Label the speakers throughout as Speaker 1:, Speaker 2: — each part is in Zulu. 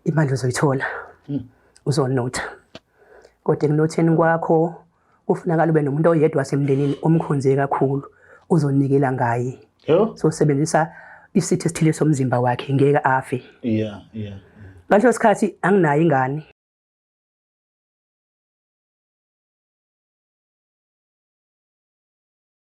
Speaker 1: imali uzoyithola hmm. uzonotha kodwa ekunotheni kwakho kufunakala ube nomuntu oyedwa wasemndenini omkhonze kakhulu uzonikela ngaye so sebenzisa isitho esithile somzimba wakhe ngeke afe yeah yeah ngaleso sikhathi anginayo ingane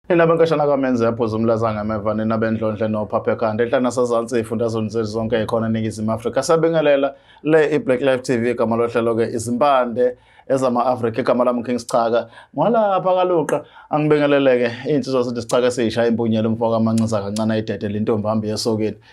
Speaker 2: Nina benkashana kamenze yaphuza umlazanga emeva nina bendlondle nophaphekhanda enhla nasezansi ifundazweni zethu zonke ikhona eningizimu afrika sabingelela le i-black life tv igama lohlelo-ke izimpande ezama-afrika igama lami king sichaka ngwalapha kaluqa angibingeleleke iy'nsizwa sithi sichaka esiyisha impunyela umfo kamancinza kancane ayidedele intombi hambi yesokeni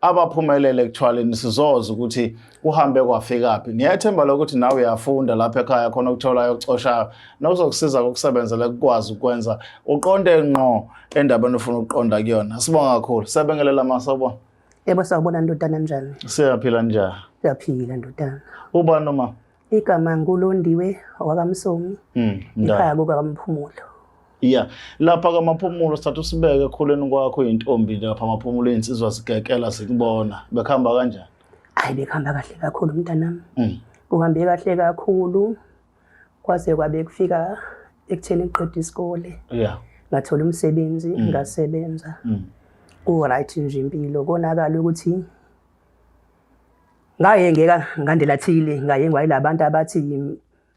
Speaker 2: abaphumelele ekuthwaleni sizoza ukuthi kuhambe kwafikaphi ngiyethemba lokuthi nawe uyafunda lapha ekhaya khona okutholayo okucoshayo nokuzokusiza kokusebenzela kukwazi ukwenza uqonde ngqo endabeni ofuna ukuqonda kuyona sibonga kakhulu sebengelela masobo yebo sawubona
Speaker 1: ndodana njani siyaphila njani
Speaker 2: siyaphila ndodana
Speaker 1: ubani noma
Speaker 2: Igama nguLondiwe
Speaker 1: wakaMsomi. Mm. Ikhaya kukaMphumulo. Yeah.
Speaker 2: Lapha kamaphumulo sithatha usibeke ekhuleni kwakho intombi lapha amaphumulo insizwa zigekela zikubona. Bekhamba kanjani? Hayi bekhamba
Speaker 1: kahle kakhulu mntanami. Mm. Uhambe kahle kakhulu kwaze kwabe kufika ekutheni ngiqeda isikole. Yeah. Ngathola umsebenzi mm. ngasebenza. Mm. Ku right nje impilo konakala ukuthi ngaye ngeka ngandela thile ngaye ngwayilabantu abathi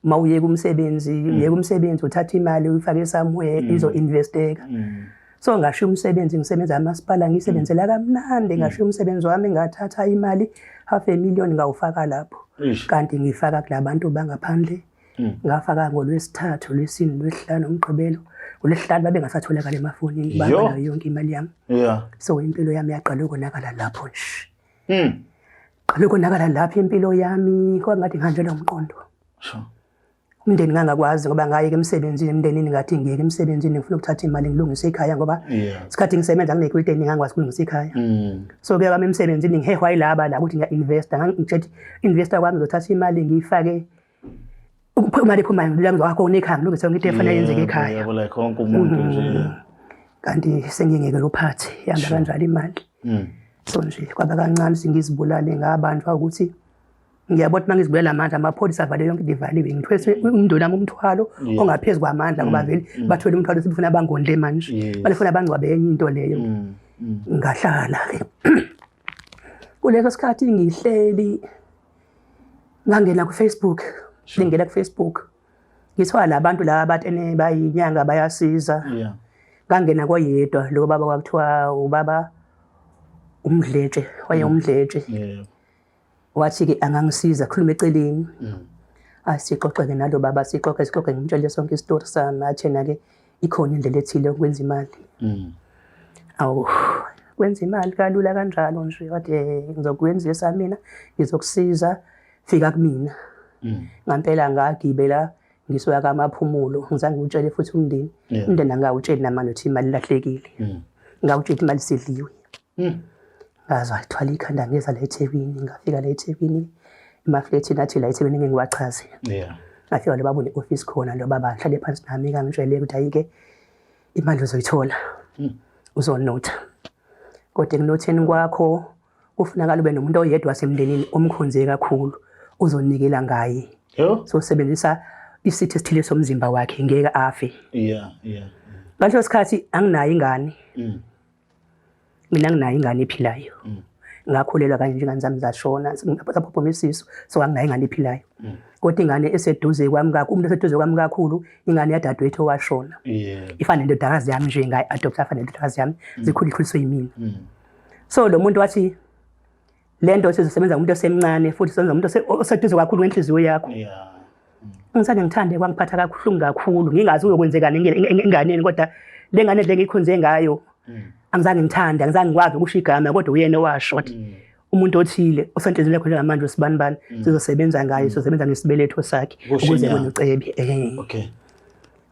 Speaker 1: uma uyeka umsebenzi mm. uyeka umsebenzi uthatha imali uyifake somewhere mm. izo investeka mm. so ngasho umsebenzi ngisebenza amasipala ngisebenzela kamnandi ngasho umsebenzi wami ngathatha imali half a million ngawufaka lapho kanti ngifaka kulabantu bangaphandle ngafaka ngolwesithathu lwesini lwesihlanu umgqibelo ngolwesihlanu babengasatholakala emafonini bangala yonke imali yami so impilo yami yaqala ukonakala lapho nje Mm. Qabe konakala lapha impilo yami kwangathi ngihanjelwe umqondo. Sure. Umndeni ngangakwazi ngoba ngaye ke emsebenzini emndenini ngathi ngiyeke emsebenzini ngifuna ukuthatha imali ngilungise ikhaya ngoba isikhathi ngisebenza nginekwilite ngangikwazi ukulungisa ikhaya. Mm. So ke kwami emsebenzini ngihehwa ilaba la ukuthi ngiya investa ngangitshethi investa kwami ngizothatha imali ngiyifake ukuphuma liphuma ngilami wakho unekhaya ngilungise yonke into efanele yenzeke ekhaya yabo like wonke umuntu nje
Speaker 2: mm. kanti
Speaker 1: sengingeke lophathi yanda kanjalo imali mm. so nje kwaba kancane singizibulale ngabantu ukuthi ngiyabona ukuthi mangizibulela amandla amapholisa avale yonke into ivaliwe ngithwese umndeni wami umthwalo ongaphezu kwamandla ngoba mm. vele bathwele umthwalo sibufuna abangondle manje balifuna abangcwabe enye into leyo ngahlala ke kuleso sikhathi ngihleli ngangena kufacebook ngingena kufacebook ngithiwa la bantu laba bathi ene bayinyanga bayasiza yeah ngangena koyedwa lo baba kwakuthiwa ubaba umdletshe waye mm. umdletshe yeah wathi ke angangisiza khuluma eceleni mm. asixoxe ke nalo baba sixoxe sixoxe ngimtshele sonke isitori sami athena ke ikhona indlela ethile yokwenza imali mm. awu kwenza imali kalula kanjalo nje wathi eh, ngizokwenza esamina ngizokusiza fika kumina mm. ngampela ngagibela ngisuka kamaphumulo ngizange utshele futhi umndeni umndeni angawutsheli namanje ukuthi imali lahlekile mm. ngawutshela imali sidliwe ngaze wayithwala ikhanda ngeza la eThekwini ngafika la eThekwini emaflethini athi la eThekwini ngeke ngiwachaze yeah ngafika lo baba une-ofisi khona lo baba ngihlale phansi nami kangitshele ukuthi ayike imali uzoyithola hmm. uzonotha kodwa ekunotheni kwakho kufunakala ube nomuntu oyedwa wasemndenini omkhonze kakhulu uzonikela ngaye so sebenzisa isithi esithile somzimba wakhe ngeke afe yeah yeah ngaleso sikhathi anginayo ingane mm. mina nginayo ingane ephilayo mm. ngakhulelwa kanje njengani zami zashona saphuphuma isisu so anginayo ingane ephilayo mm. kodwa ingane eseduze kwami kakhulu umuntu eseduze kwami kakhulu ingane yadadewethu owashona ifana nendodakazi yami nje ngayi-adopta afana nendodakazi yami mm. zikhulekhuliswe yimina so lo muntu wathi le nto sizosebenza umuntu osemncane futhi sizosebenza umuntu oseduze kakhulu ngenhliziyo yakho ngisane ngithande kwangiphatha kabuhlungu kakhulu ngingazi uyokwenzekani enganeni kodwa le ngane le ngiyikhonze ngayo mm. angizange ngithande angizange ngikwazi ukusho igama kodwa uyena owasho wathi mm. umuntu othile osenhliziyweni yakho njengamanje usibani bani mm. sizosebenza ngayo sizosebenza ngesibeletho sakhe ukuze kwenye ucebi eh. okay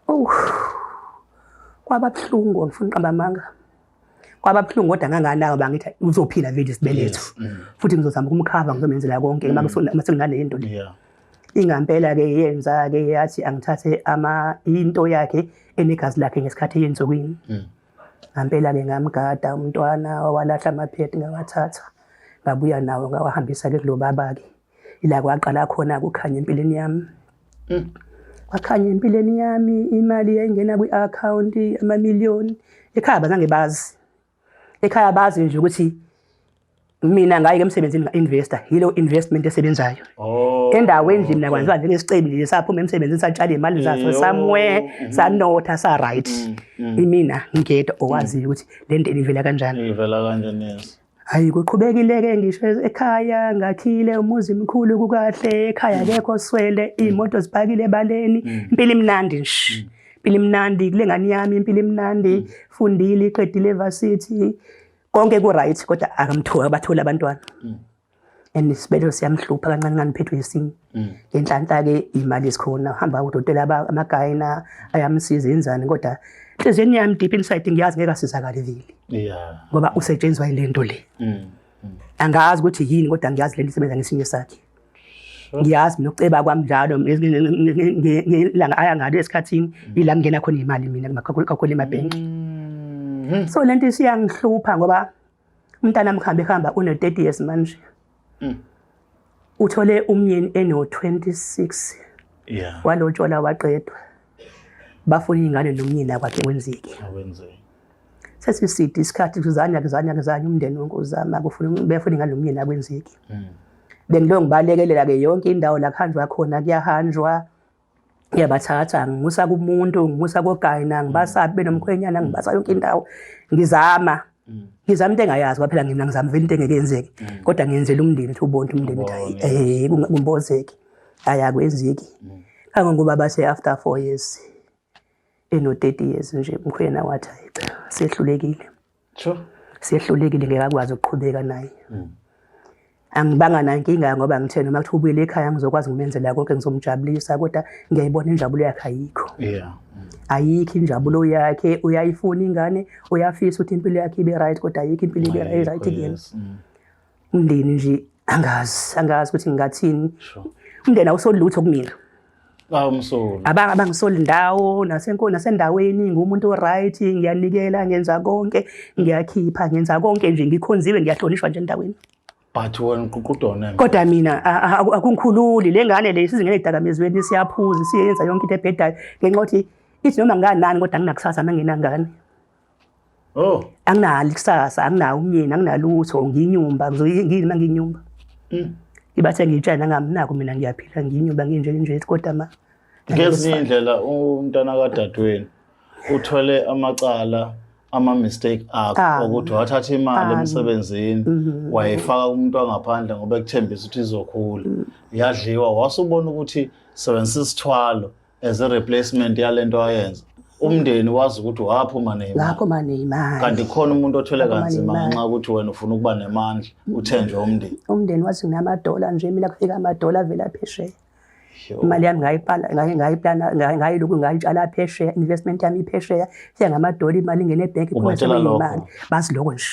Speaker 2: oh
Speaker 1: kwaba buhlungu ngifuna uqamba amanga kwababuhlungu kodwa nganganaka bangithi uzophila vele isibeletho mm. futhi ngizozama ukumkhava ngizomenzela konke mm. uma sekunale into le ingampela-ke yenza-ke yathi angithathe into yakhe enegazi lakhe ngesikhathi eyensukwini mm. ngampela-ke ngamgada umntwana wawalahla amaphethi ngawathatha ngabuya nawo ngawahambisa-ke kulo baba-ke ila kwaqala khona kukhanya empilweni yami mm. kwakhanya empilweni yami imali yayingena kwi-akhawunti amamiliyoni ekhaya bazange bazi ekhaya bazi nje ukuthi mina ngaye ke msebenzini nga-investor yilo investment esebenzayo oh, endaweni nje mina kwanziwa njengesicebi nje saphuma emsebenzini satshale imali zaso somewhere mm-hmm. sanotha sa-right mm, mm. imina ngingedwa owaziyo ukuthi le nto inivela kanjani
Speaker 2: Hayi kuqhubekileke
Speaker 1: ngisho ekhaya ngakhile umuzi mkhulu kukahle ekhaya kekho swele imoto zibhakile ebaleni mm. impilo imnandi nje mm. impilo imnandi kule ngane yami impilo imnandi mm. fundile iqedile varsity konke ku right kodwa akamthola bathola abantwana and isibelelo siyamhlupha kancane kancane phethwe yesinye mm. ngenhlanhla-ke imali esikhona hamba udokotela amagayina ayamsiza yenzani kodwa enhliziyweni yami deep inside ngiyazi ngeke asizakale vile ngoba usetshenziswa yile nto le mm, mm. angazi ukuthi yini kodwa ngiyazi le nto isebenza ngesinye sakhe ngiyazi mina ukuceba kwami njalo ngelanga aya ngalo esikhathini ila ngingena khona imali mina kakhulu emabhenki so le nto isiyangihlupha ngoba umntana mkhambe hamba une 30 years manje mm. uthole umyeni eno 26 yeah walotshola waqedwa bafuna ingane nomyeni akwakhe kwenzeke awenzeke sesiside isikhathi kuzanya kuzanya kuzanya umndeni wonke uzama kufuna befuna ingane nomyeni akwenzeke mm. bengilo ngibalekelela ke yonke indawo la kuhanjwa khona kuyahanjwa ngiyabathatha ngimusa kumuntu ngimusa kogayina ngibasabi mm. benomkhwenyana mm. ngibasa yonke indawo ngizama mm. ngizama into engayazi kwaphela ngina ngizama vele into engeke yenzeke kodwa ngiyenzela umndeni ukuthi ubonke umndeni ukuthi eh kumbozeki ayakwenzeki kangangoba base after 4 years eno 30 years nje umkhwena wathi hayi cha sehlulekile Sure. Sehlulekile ngeke akwazi ukuqhubeka naye. Mm. Angibanga nankinga ngoba ngithena uma kuthi ubuyele ekhaya ngizokwazi ngimenzela konke ngizomjabulisa kodwa ngiyayibona injabulo yakhe ayikho. Yeah. Mm. Ayikho injabulo yakhe uyayifuna ingane uyafisa ukuthi impilo yakhe ibe right kodwa ayikho impilo ibe right kuyena. Mm. umndeni nje angazi angazi ukuthi ngingathini umndeni awusolutho kumina awumsoli
Speaker 2: abanga abangisoli
Speaker 1: ndawo nasenkolo nasendaweni ngumuntu oright ngiyanikela ngenza konke ngiyakhipha ngenza konke nje ngikhonziwe ngiyahlonishwa nje endaweni but wena
Speaker 2: uququdona kodwa mina
Speaker 1: akungikhululi le ngane le sizingene edakamizweni siyaphuza siyenza yonke into ebhedayo ngenxa yokuthi ithi noma nganani kodwa nginakusasa manginangane Oh. Anginalo ikusasa, anginawo umyeni, anginalutho, nginyumba, ngizoyini uma nginyumba. Mm. Ibathe ngitshana ngaminako mina ngiyaphila nginyumba nginje nje kodwa ma. Ngezinye
Speaker 2: indlela umntana kadadewenu uthole amacala ama mistake akho ah. ukuthi wathatha imali ah. emsebenzini mm-hmm. wayifaka kumuntu wangaphandle ngoba ekuthembisa ukuthi izokhula mm. yadliwa wasubona ukuthi sebenzisa isithwalo as a replacement yalento ayenza umndeni wazi ukuthi waphuma neimali waphuma neimali kanti khona umuntu othwele kanzima ngenxa ukuthi wena ufuna ukuba nemandla uthenjwe umndeni umndeni wathi
Speaker 1: nginamadola nje mina kufika amadola avela phesheya imali yami ngayipala ngayiplana ngayilokhu ngayitshala phesheya investment yami iphesheya fika ngamadola imali ingene ebhenki phuma imali basiloko nje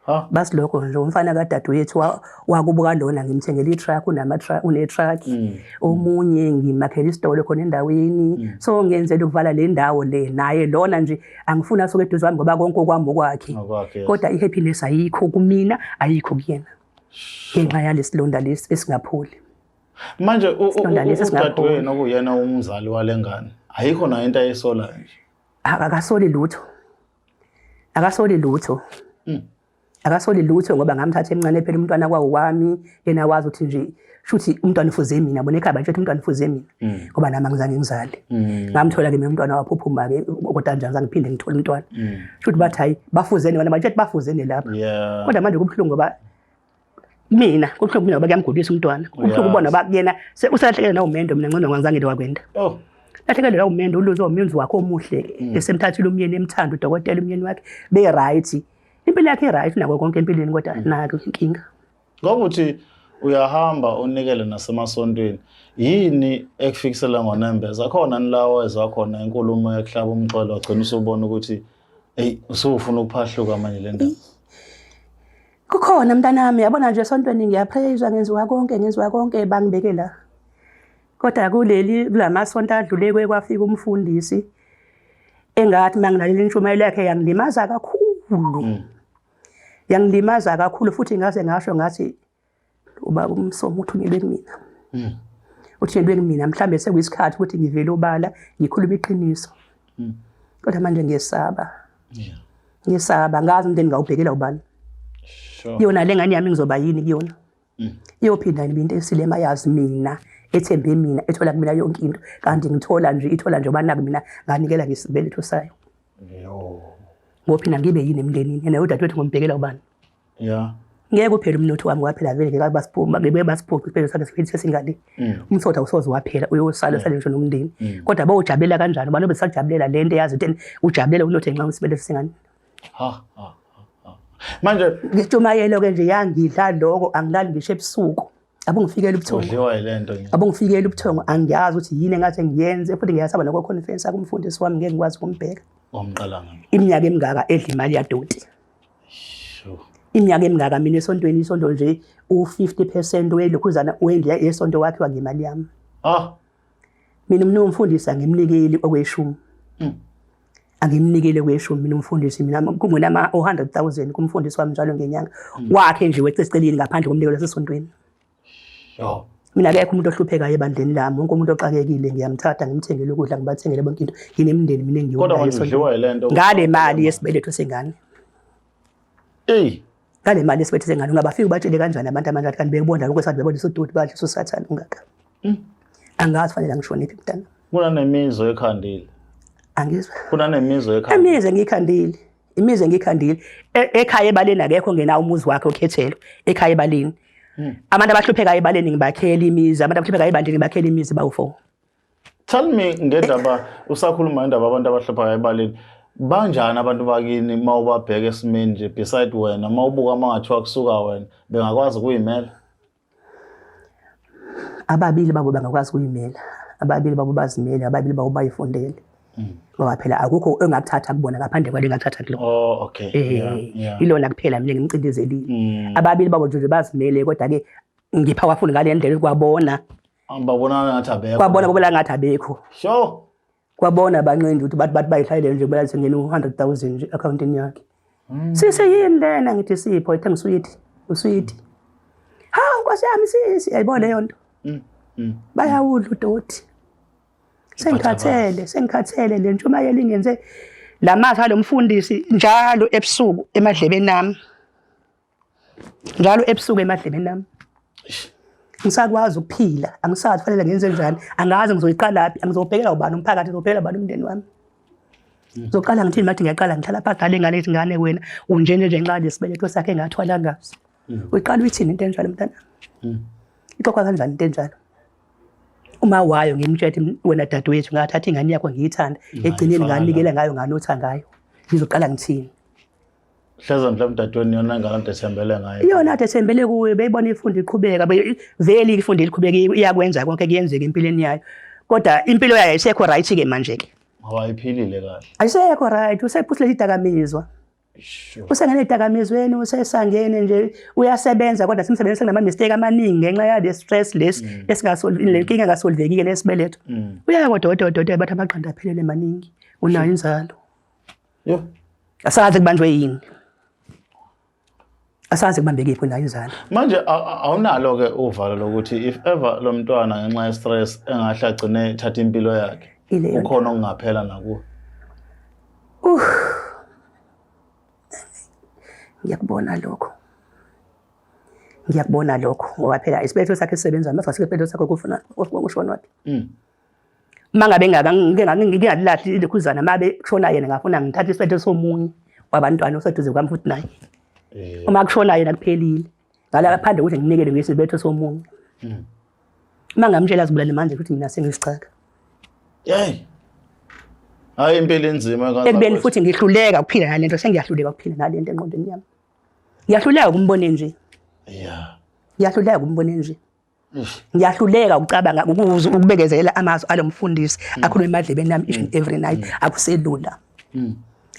Speaker 1: Huh? Bas lokho nje umfana kadadewethu wakubuka lona ngimthengele i-truck unama truck une truck mm. omunye ngimakhele isitolo khona endaweni mm. so ngenzele ukuvala le ndawo le naye lona nje angifuni asuke eduze kwami ngoba konke okwami okwakhe kodwa i-happiness ayikho kumina ayikho kuyena ngenxa yalesilonda lesi esingapholi manje
Speaker 2: udadewenu okuyena umzali wale ngane ayikho nayo into ayisolayo nje akasoli
Speaker 1: lutho akasoli lutho mm. akasoli lutho ngoba ngamthatha emncane phela umntwana kwawo wami yena wazi ukuthi nje shuthi umntwana ufuze mina bona ekhaya bathi umntwana ufuze mina mm. ngoba nami angizange ngizale mm. ngamthola ke mina umntwana waphuphuma ke kodwa njani zange phinde ngithole umntwana mm. shuthi bathi hayi bafuzene wena bathi bafuzene lapha kodwa manje kubhlungu ngoba mina kubuhlungu mina bakuyamgulisa umntwana kubuhlungu ubona ba kuyena usalahlekele nawo mendo mina ngcono ngangizange into wakwenda oh lahlekele nawo mendo uluze umyenzi wakhe omuhle mm. esemthathile umyeni emthanda udokotela umyeni wakhe be right impilo yakhe right nako konke empilweni kodwa mm. nako inkinga
Speaker 2: ngokuthi uyahamba unikele nasemasontweni yini ekufikisela ngonembeza akhona nilawo ezakhona inkulumo yokuhlaba umxhwele wagcina usubona ukuthi eyi usufuna ukuphahluka manje le ndaba
Speaker 1: kukhona mntanami yabona nje esontweni ngiyaphreyiza ngenziwa konke ngenziwa konke bangibeke la kodwa kuleli kula masonto adlule kwe kwafika umfundisi engathi uma ngilaleli intshumayelo yakhe yangilimaza kakhulu mm. yangilimaza kakhulu futhi ngaze ngasho ngathi ubaba umsomo uthunyelwe kumina mm. uthunyelwe kumina mhlawumbe sekuyisikhathi ukuthi ngivele obala ngikhulume iqiniso mm. kodwa manje ngiyesaba yeah. ngiyesaba ngazi umndeni ngawubhekela ubani sure. yona le ngane yami ngizoba yini kuyona mm. iyophinda ngibe into esilema yazi mina ethembe mina ethola kumina yonke into kanti ngithola nje ithola nje obana kumina nganikela ngisibeletho sayo ngophina ngibe yini emndenini yena udadewethu ngombhekela ubani yeah ngeke uphele umnotho wami waphela vele ngeke basiphuma ngeke basiphuce isibhedlela sakhe siphele sesingale mm. umsotha usoze waphela uyosala mm. sale ngisho nomndeni mm. kodwa bawujabulela kanjani abantu besajabulela lento yazi ukuthi ujabulela unothe nxa usibhedlela singane ha ha
Speaker 2: manje ngitumayelo ke nje
Speaker 1: yangidla lokho angilali ngisho ebusuku abungifikela ubuthongo udliwa yilento nje
Speaker 2: abungifikela ubuthongo
Speaker 1: angiyazi ukuthi yini engathi ngiyenze futhi ngiyasaba nokho confidence akumfundisi wami ngeke ngikwazi ukumbheka omqalanga
Speaker 2: iminyaka emingaka edla
Speaker 1: imali yadoti Sure. Iminyaka emingaka mina esontweni isonto nje u-50% welokhuzana wendiya esonto wakhiwa ngemali yami. Ah. Mina mina umfundisi angimnikeli okweshumi. Mm. Angimnikele kweshumi mina umfundisi mina kungena ama 100,000 kumfundisi wami njalo ngenyanga. Mm. Wakhe nje wecesicelini ngaphandle komnikelo sesontweni. mina akekho umuntu ohluphekayo ebandleni lami wonke umuntu oxakekile ngiyamthatha ngimthengele ukudla ngibathengele bonke into nginemndeni mina ngiyngale
Speaker 2: mali yesibeletho
Speaker 1: sengane eyi ngale mali yesibeletho sengane ungabafika ubatshele kanjani abantu amanjani kanti bekubonda lokho esathi bebona isodoti badle sosathane ungaka hmm. angazi fanele angishoniphi mntana kunanemizwa
Speaker 2: ekhandile angizwa
Speaker 1: kunanemizwa
Speaker 2: ekhandile emize ngiyikhandile
Speaker 1: imizi engikhandile e, ekhaya ebaleni akekho ngena umuzi wakhe okhethelo ekhaya ebaleni hmm. abantu abahluphekayo ebaleni ngibakhela imizi abantu abahluphekayo ebandini ngibakhela imizi bawufo tell
Speaker 2: me ngendaba usakhuluma indaba abantu abahluphekayo ebaleni banjani abantu bakini uma ubabheka esimeni nje beside wena uma ubuka uma ngathiwa kusuka wena bengakwazi ukuyimela ababili babo bangakwazi kuyimela
Speaker 1: ababili babo bazimele ababili babo bayifundele mm. ngoba phela akukho engakuthatha kubona ngaphandle kwale ngakuthatha kulo oh okay eh, yeah,
Speaker 2: yeah. ilona
Speaker 1: kuphela mina ngimcindezelile mm. ababili babo nje bazimele kodwa ke ngipha wafuni ngale ndlela kwabona babona
Speaker 2: ngathi abekho kwabona babona ngathi abekho
Speaker 1: sure
Speaker 2: kwabona
Speaker 1: abancindi ukuthi bathi bathi bayihlayile nje bela sengena u-100000 nje accountini yakhe hmm. sisi yini lena ngithi sipho ithe ngiswiti uswiti hawu nkosi yami sisi yayibona leyo nto hmm, hmm. bayawudla udoti sengikhathele sengikhathele le ntshumayelo ingenze la mazwi alo mfundisi njalo ebusuku emadlebeni ami njalo ebusuku emadlebeni nami ngisakwazi ukuphila angisazi kufanele ngenze njani angazi ngizoyiqalaphi angizobhekela ubani umphakathi ngizobhekela ubani umndeni wami hmm. ngizoqala ngithini mathi ngiyaqala ngihlala pha dala ingane ethi ngane wena unjene nje nxa lesibeletho sakhe engathwala ngaso hmm. uyiqala uyithini into enjalo mntana hmm. ixoxwa kanjani into enjalo uma wayo ngimtshela wena dadewethu ngathatha ingane yakho ngiyithanda egcineni nganikela ngayo nganotha ngayo ngizoqala ngithini hleza
Speaker 2: mhlawumbe dadweni yona ngane ade sembele ngayo iyona ade sembele kuyo
Speaker 1: beyibona ifundo iqhubeka vele ifundo eliqhubeka iyakwenza konke kuyenzeka empilweni yayo kodwa impilo yayo isekho right ke manje ke ngoba iphilile
Speaker 2: kahle ayisekho right
Speaker 1: usephusile idakamizwa usengene edakamizweni usesangene nje uyasebenza kodwa simsebenzi senama mistake amaningi ngenxa yale stress lesi mm. esingasolve le nkinga kasolvekile lesibeletho mm. uyaya kodwa kodwa kodwa bathi amaqanda aphelele maningi unayo inzalo Yo. Asazi kubanjwe yini. Asazi kubambeke iphi la izana. Manje a- a-
Speaker 2: awunalo ke uvalo lokuthi if ever lo mntwana ngenxa ye stress engahle agcine thatha impilo yakhe. Ileyo nto. Ukhona okungaphela nakuwe. Ngiyakubona lokho. Ngiyakubona lokho ngoba phela isibetho sakhe sisebenza mase sike isibetho sakhe kufuna ushona wapi. Mm. mangabe ngaba ngike ngalilahli ilekhuzana mabe kushona yena ngafuna ngithathe isiphetho somunye wabantwana oseduze kwami futhi naye eh. uma kushona yena kuphelile ngala ngaphandle ukuthi nginikele ngesibetho somunye hmm. uma ngamtshela azibulale manje ukuthi mina sengisichaka yeyi hayi impilo inzima ekubeni futhi ngihluleka
Speaker 1: ukuphila nale nto sengiyahluleka ukuphila nale nto enqondweni yami ngiyahluleka ukumbone nje ya ngiyahluleka ukumbone nje ngiyahluleka ukucabanga ukuzwa ukubekezelela amazwi alo mfundisi mm. akhuluma emadlebeni yami each and mm. every night mm. akuselula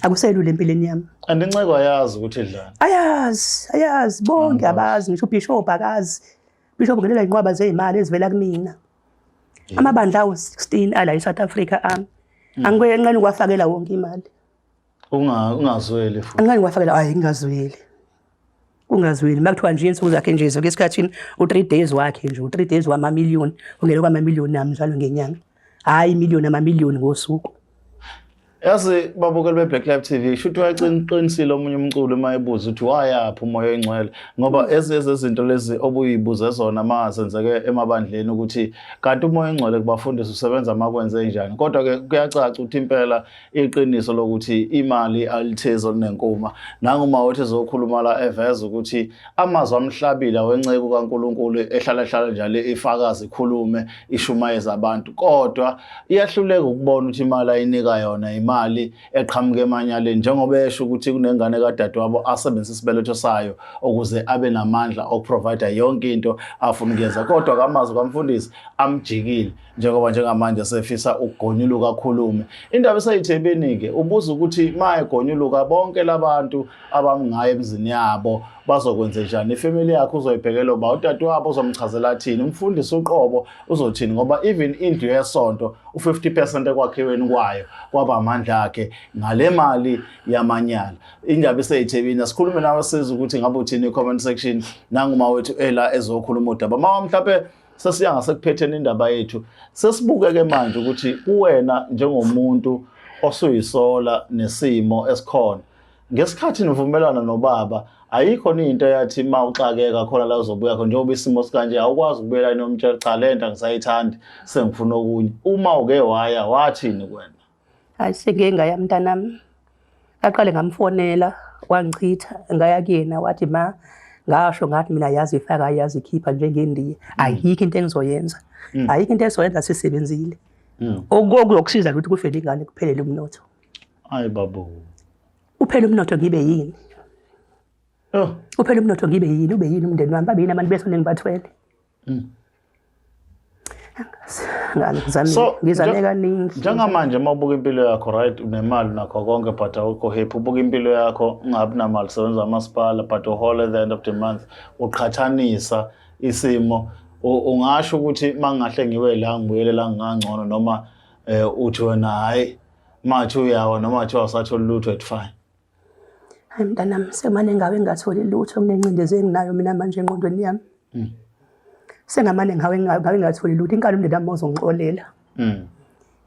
Speaker 1: akuselula empilweni yami and inceko ayazi
Speaker 2: ukuthi idlani ayazi ayazi
Speaker 1: bonke abazi ngisho ubishop akazi bishop ngelela inqwaba zeyimali ezivela kumina amabandla awu 16 ala eSouth Africa ami angike enqeni kwafakela wonke imali
Speaker 2: ungazweli futhi angike kwafakela hayi
Speaker 1: ngingazweli Kungazweli makuthiwa nje insuku zakhe nje zonke esikhathini u-three days wakhe nje u-three days wamamiliyoni ungele kwamamiliyoni nami njalo ngenyanga hhayi imiliyoni amamiliyoni ngosuku yazi
Speaker 2: babukeli be-black life t v shuthi wayeqinisile omunye umculo uma ebuza ukuthi wayaphi umoya oyingcwele ngoba mm. ezinye zezinto lezi obuyibuze zona ma zenzeke emabandleni ukuthi kanti umoya oyingcwele kubafundisi usebenza ma kwenze njani kodwa-ke kuyacaca ukuthi impela iqiniso lokuthi imali alithezi olunenkuma nanguma othi ezokhuluma la eveza ukuthi amazwi amhlabile wenceku kaNkuluNkulu ehlala ehlala njalo ifakazi ikhulume ishumayeza abantu kodwa iyahluleka ukubona ukuthi imali ayinika yona imali eqhamuka emanyaleni njengoba esho ukuthi kunengane kadadewabo asebenzisa isibeletho sayo ukuze abe namandla okuprovide yonke into afuna ukuyenza kodwa kamazwi kamfundisi amjikile njengoba njengamanje sefisa ukugonyuluka akhulume indaba eseyithebeni-ke ubuza ukuthi ma egonyuluka bonke labantu abamngayo emzini yabo bazokwenze njani ifamily yakhe uzoyibhekela uba utati wabo uzomchazela athini umfundisi uqobo uzothini ngoba even indlu yesonto u-50 percent ekwakhiweni kwayo kwaba amandla akhe ngale mali yamanyala indaba iseyithebini asikhulume nawe siza ukuthi ngabe uthini i-comment section nanguma wethu ela ezokhuluma udaba mama mhlawumpe sesiya ngasekuphetheni indaba yethu sesibukeke manje ukuthi kuwena njengomuntu osuyisola nesimo esikhona ngesikhathi nivumelana nobaba ayikho into yathi uma uxakeka khona la uzobuya khona njengoba isimo sikanje awukwazi ukubuyela inomtshela cha le nto angisayithandi sengifuna okunye uma uke waya wathini kwena hayi sengike
Speaker 1: ngaya mntanami aqale ngamfonela wangichitha ngaya kuyena wathi ma ngasho ngathi mina yazi ifaka yazi ikhipha njengendiya mm. ayikho into engizoyenza mm. ayikho into esizoyenza sisebenzile mm. okuyokusiza ukuthi kufele ingane kuphelele umnotho hayi babo
Speaker 2: uphele
Speaker 1: umnotho ngibe yini oh. uphele umnotho ngibe yini ube yini umndeni wami babe yini abantu besoningi bathwele mm. so ngizane kaningi njengamanje uma ubuka
Speaker 2: impilo yakho right unemali nakho konke but awukho happy ubuka impilo yakho ungabi namali sebenza amasipala but uhole the end of the month uqhathanisa isimo ungasho ukuthi mangahle ngiwe la ngibuyele la ngingangcono noma eh uthi wena hayi mathu uyawa noma athiwa usatholi lutho at fine hayi
Speaker 1: mntanami sekumane ngawe ngingatholi lutho kunencindezi enginayo mina manje engqondweni yami mm. sengamane ngawe ngawe ngingatholi lutho inkalo umndeni wami uzongixolela mm.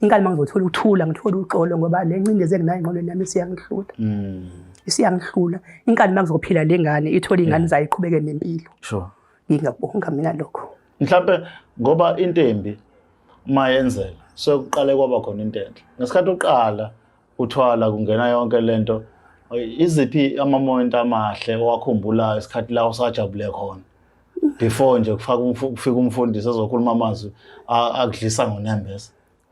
Speaker 1: inkalo uma ngizothola ukuthula ngithole uxolo ngoba le ncindezi enginayo engqondweni yami isiyangihlula mm. isiyangihlula inkalo uma ngizophila le ngane ithole iy'ngane zayo iqhubeke nempilo
Speaker 2: ngingakubonga mina
Speaker 1: lokho mhlawumpe
Speaker 2: ngoba into embi uma yenzela sokuqale kwaba khona into enhle ngesikhathi uqala uthwala kungena yonke lento iziphi amamoment amahle owakhumbulayo isikhathi la usajabule khona before nje kufaka kufika umfundisi ezokhuluma amazwi akudlisa ngonembeza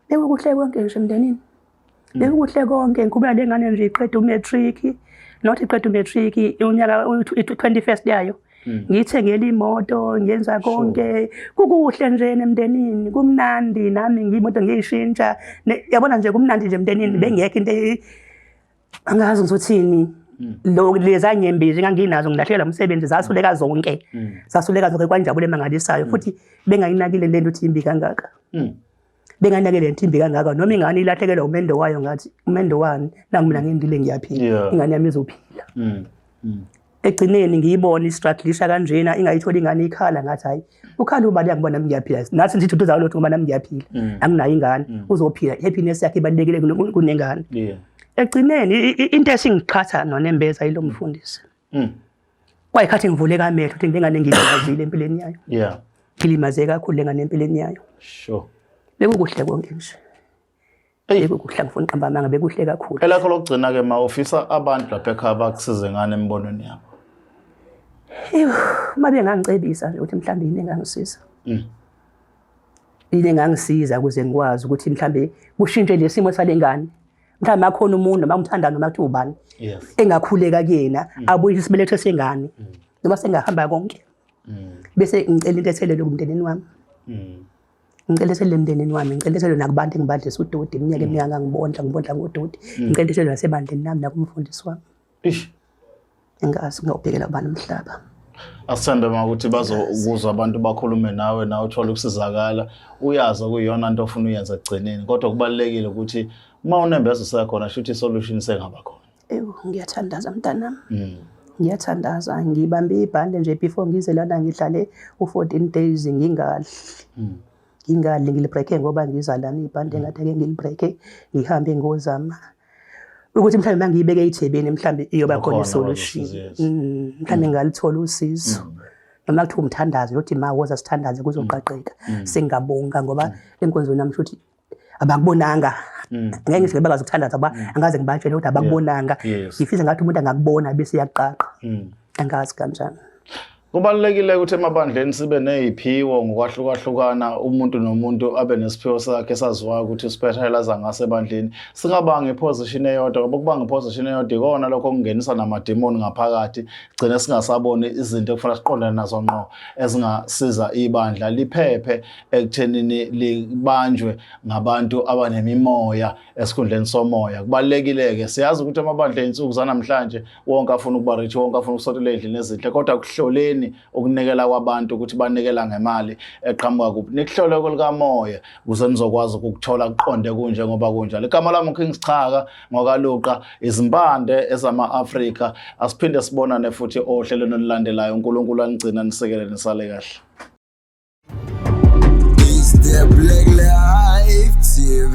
Speaker 2: bekukuhle konke
Speaker 1: nje emndenini hmm. bekukuhle konke ngikhubula le ngane nje iqeda umatric not iqeda umatric unyaka i-twenty first yayo Hmm. ngiyithengela imoto ngenza konke kukuhle nje emndenini kumnandi nami ngiyimoto ngiyishintsha yabona nje kumnandi nje emndenini hmm. bengekho into angazi ngizothini hmm. lo leza nyembe nje nganginazo ngilahlekela umsebenzi zasuleka zonke zasuleka zonke kwanjabule emangalisayo futhi bengayinakile lento ukuthi imbi kangaka benganake le ntimbi kangaka noma ingane ilahlekelwa umendo wayo ngathi umendo wani nangu mina ngindile ngiyaphila ingane yami izophila mm, mm. egcineni ngiyibona istruglisha kanjena ingayitholi ingane ikhala ngathi hayi ukhala ubani yangiba nami ngiyaphila nathi ngithi uthu zawulotho ngoba nami ngiyaphila mm. anginayo ingane uzophila happiness yakhe ibalulekile kunengane egcineni into esingiqhatha nonembeza yilo mfundisi kwayikhathi ngivuleka amehlo ukuthi lengane ngiyizile empilweni yayo yeah ngilimaze kakhulu lengane empilweni yayo sure
Speaker 2: bekukuhle
Speaker 1: konke nje bekukuhle ngifuna uqamba amanga bekuhle kakhulu elakho lokugcina ke ma
Speaker 2: ufisa abantu lapha ekhaya bakusize ngane embonweni yabo Ewu,
Speaker 1: uma bengangicebisa nje ukuthi mhlawumbe yini engangisiza. Mm. Yini engangisiza ukuze ngikwazi ukuthi mhlawumbe kushintshe lesimo salengane. mhlawumbe akhona umuntu noma umthandana noma kuthiwa ubani engakhuleka kuyena mm. abuye isibeletho sengane mm. noma sengahamba konke mm. bese ngicela into ethelele kumndenini wami ngicela ethelele emndenini wami ngicela ethelele nakubantu engibadlisa udoti iminyaka eminingi angangibondla ngibondla ngodoti ngicela ethelele nasebandleni nami nakumfundisi wami Ish. Ingazi ngiyobhekela ubani umhlaba. Asithanda uma
Speaker 2: ukuthi bazokuzwa abantu bakhulume nawe nawe uthole ukusizakala uyazi okuyona into ofuna uyenza kugcineni kodwa kubalekile ukuthi uma unembeza usekhona shuthi solution sengaba khona. Ewu ngiyathandaza
Speaker 1: mntanami. Mm. ngiyathandaza ngibambe ibhande nje before ngize lana ngidlale u-fourteen days ngingadli hmm. ngingadli ngilibreake ngoba ngiza lana ibhande ngathi ake ngilibreake ngihambe ngozama ukuthi mhlawumbe mangiyibeke ejebeni mhlawumbe iyoba khona isolution mm, mhlawumbe mm. ngalithola usizo mm. noma kuthiwa umthandazi lothi ma woza sithandaze kuzoqaqeka singabonga ngoba enkonzweni yami futhi abakubonanga ngeke ngithi bebakazi ukuthandaza ngoba angaze ngibatshele ukuthi abakubonanga ngifisa ngathi umuntu angakubona bese yaqaqa angazi kanjani Kubalulekile
Speaker 2: ukuthi emabandleni sibe neziphiwo ngokwahlukahlukana umuntu nomuntu abe nesiphiwo sakhe saziwayo ukuthi uspecialize ngase ebandleni singabanga iposition eyodwa ngoba ukubanga iposition eyodwa ikona lokho kungenisa namademoni ngaphakathi gcine singasaboni izinto ekufanele siqondane nazo ngqo ezingasiza ibandla liphephe ekuthenini libanjwe ngabantu abanemimoya esikhundleni somoya kubalulekile ke siyazi ukuthi amabandla insuku zanamhlanje wonke afuna ukuba rich wonke afuna ukusotela endlini ezinhle kodwa kuhloleni ukunikela kwabantu ukuthi banikela ngemali eqhamuka kuphi nikuhlole kolikamoya ukuze nizokwazi ukukuthola kuqonde kunje ngoba kunjalo igama lami uKing Sichaka ngokaluqa izimpande ezama-Afrika asiphinde sibonane futhi ohlelweni olulandelayo uNkulunkulu anigcina nisekele nisale kahle
Speaker 3: Is there black life TV?